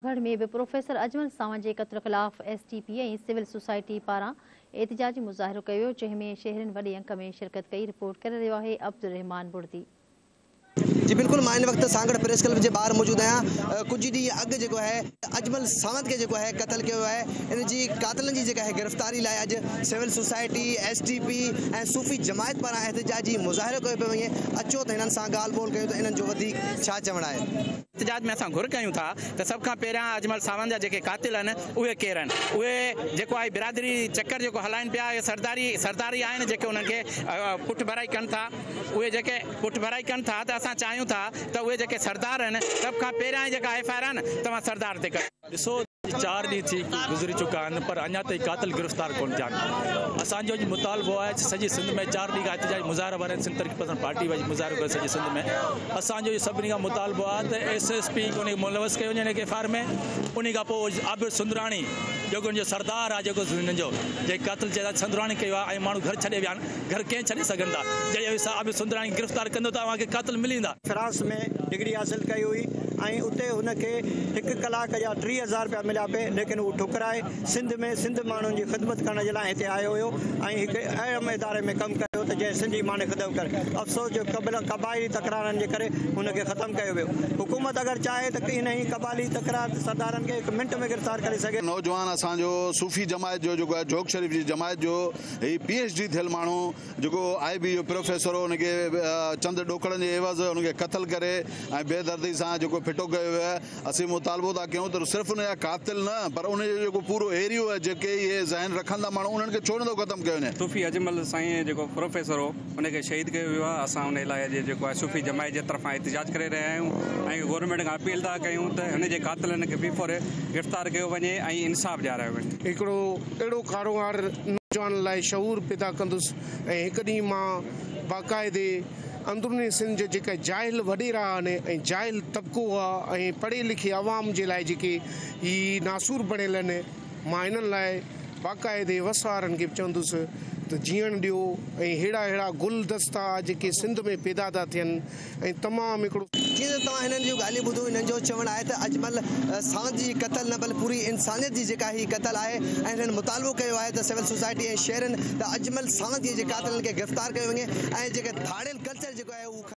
گهڙ ۾ به پروفيسر اجمل ساوند جي قتل خلاف S T P ۽ civil society پاران احتجاجي مظاهرو ڪيو ويو جنهن ۾ شهرين وڏي انڪ ۾ شرڪت ڪئي رپورٽ ڪري رهيو آهي عبدالرحمان بڙدي. جي بلڪل مان هن وقت سانگهڙ پريس ڪلب جي ٻاهر موجود آهيان ڪجهه ڏينهن اڳ جيڪو آهي اجمل ساوند کي جيڪو آهي قتل ڪيو ويو آهي ان جي قاتلن جي جيڪا آهي گرفتاري لاء اڄ civil society S T P ۽ صوفي جماعت پاران احتجاجي مظاهرو ڪيو پيو وڃي اچو ته هنن سان ڳالهه ٻولهه ڪيون ته انهن جو وڌيڪ ڇا چوڻ آهي. احتجاج ۾ اسان گهر ڪيون ٿا ته سڀ کان پهريان اجمل ساوند جا جيڪي قاتل آهن اهي ڪير آهن اهي جيڪو آهي برادري چڪر جيڪو هلائين پيا اهي سرداري سرداري آهن جيڪي انهن کي پٺڀرائي ڪن ٿا اهي جيڪي پٺڀرائي ڪن ٿا ته اسان چاهيون ٿا ته اهي جيڪي سردار آهن سڀ کان پهريان جيڪا ايف آء آر آهي نه توهان سردار تي ڪريو. ڏسو اڄ چار ڏينهن ٿي گذري چڪا آهن پر اڃا تائين قاتل گرفتار ڪونه ٿيا آهن اسان جو اڄ مطالبو آهي ته سڄي سنڌ ۾ چار ڏينهن کان احتجاجي مظاهرا وارن سنڌ ترقي پسند پارٽي وارن مظاهرو ڪيو سڄي سنڌ ۾ اسان جو سڀني کان مطالبو آهي ته ايس ايس پي کي ملوث ڪيو وڃي هن ايف آء آر ۾ ان کان پوء عابد سندراڻي جيڪو هن جو سردار آهي جيڪو هن جو جنهن قتل جيڪو سندراڻي ڪيو آهي ۽ ماڻهو گهر ڇڏي ويا آهن گهر ڪئين ڇڏي سگهندا. جڏهن اوهين سر عابد سندراڻي کي گرفتار ڪندو ته اوهان کي قاتل ملي ويندا. فرانس ۾ ڊگري حاصل ڪئي هئي ۽ اتي هن کي هڪ ڪلاڪ جا ٽيهه هزار رپيا مليا پئي ليڪن هو ٺڪرائي سنڌ ۾ سنڌ ماڻهن جي خدمت ڪرڻ جي لاء هتي آيو هيو ۽ هڪ اهم اداري ۾ ڪم ڪيو ته جنهن سنڌي ماڻهن جي خدمت ڪري افسوس جو قبائلي تڪرارن جي ڪري هن کي ختم ڪيو ويو حڪومت اگر چاهي ته انهي قبائلي تڪرار سردارن کي هڪ منٽ ۾ گرفتار ڪري سگهي ٿي. نوجوان اسان جو صوفي جماعت جو جيڪو آهي جوڳ شريف جي جماعت جو هي پي ايڇ ڊي ٿيل ماڻهو جيڪو آء بي جو پروفيسر هو ان کي چند ڏوڪڙن جي عيوض ان کي قتل ڪري ۽ بي دردي سان جيڪو ڦٽو ڪيو ويو آهي اسين مطالبو ٿا ڪيون ته صرف ان جا قاتل نه پر ان جو جيڪو پورو ايريو آهي جيڪي اهي ذهن رکن ٿا ماڻهو انهن کي ڇو نٿو ختم ڪيو وڃي. صوفي اجمل سائين جيڪو پروفيسر هو ان کي شهيد ڪيو ويو آهي اسان ان الاهي جي جيڪو آهي صوفي جماعت جي طرفان احتجاج ڪري رهيا آهيون ۽ گورنمينٽ کان اپيل ٿا ڪيون ته هن جي قاتلن کي بي فوري گرفتار ڪيو وڃي ۽ انصاف ڏيارايو وڃي. هڪڙو اهڙو ڪاروهنوار نوجوانن لاء شعور پيدا ڪندس ۽ هڪ ڏينهن مان باقاعدي اندروني سنڌ جا جيڪا جاهل وڏيرا آهن ۽ جاهل طبقو آهي ۽ پڙهي لکي عوام جي لاء جيڪي هي ناسور بڻيل آهن مان هنن لاء باقاعدي وس وارن کي به چوندس ته جيئڻ ڏيو ۽ ههڙا ههڙا گل دستا جيڪي سنڌ ۾ پيدا ٿا ٿين ۽ تمام هڪڙو. جيئن ته توهان هنن جون ڳالهيون ٻڌيون هنن جو چوڻ آهي ته اجمل ساند جي قتل نه بل پوري انسانيت جي جيڪا هي قتل آهي ۽ هنن مطالبو ڪيو آهي ته سول سوسائٽي ۽ شهرين ته اجمل ساند جي قاتلن کي گرفتار ڪيو وڃي ۽ جيڪي ڌاڙيل ڪلچر جيڪو آهي اهو